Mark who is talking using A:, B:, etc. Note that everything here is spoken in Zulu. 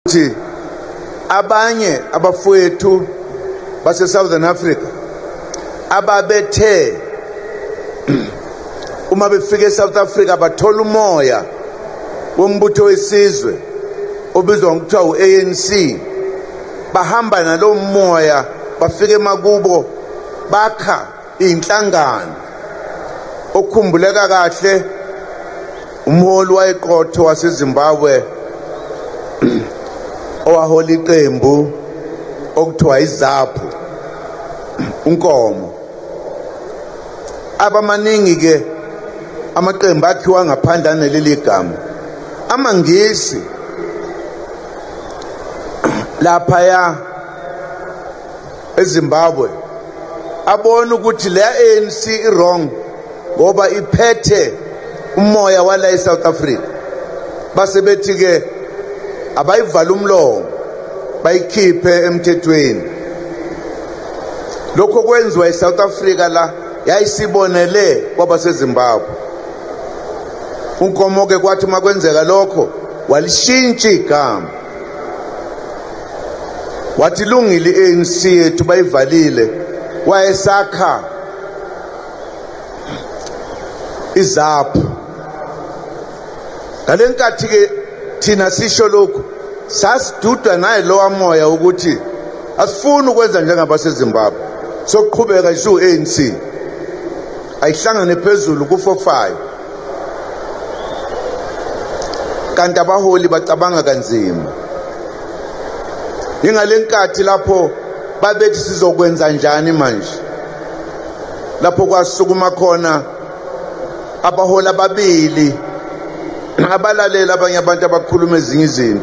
A: ukuthi abanye abafowethu base-southern africa ababethe uma befika e-south africa bathola umoya wombutho wesizwe obizwa ngokuthiwa u-anc bahamba nalowo moya bafike emakubo bakha inhlangano okhumbuleka kahle umholi wayeqotho waseZimbabwe owahola iqembu okuthiwa izaphu unkomo abamaningi ke amaqembu akhiwa ngaphandle aneleli gama amangisi laphaya eZimbabwe abone ukuthi le ANC iwrong ngoba iphethe umoya wala eSouth Africa base bethi ke abayivala umlomo bayikhiphe emthethweni lokho kwenziwa eSouth Africa la yayisibonele kwaba seZimbabwe unkomo ke kwathi makwenzeka lokho walishintshi igama wathi lungile i-anc yethu bayivalile wayesakha izaphu ngale nkathi-ke thina sisho lokhu sasidudwa naye lowa moya ukuthi asifuni ukwenza njengabasezimbabwe sokuqhubeka isiwu-anc ayihlangane phezulu kufofayo kanti abaholi bacabanga kanzima ingale nkathi lapho babethi sizokwenza njani manje lapho kwasukuma khona abaholi ababili abalalela abanye abantu abakhuluma ezinye izinto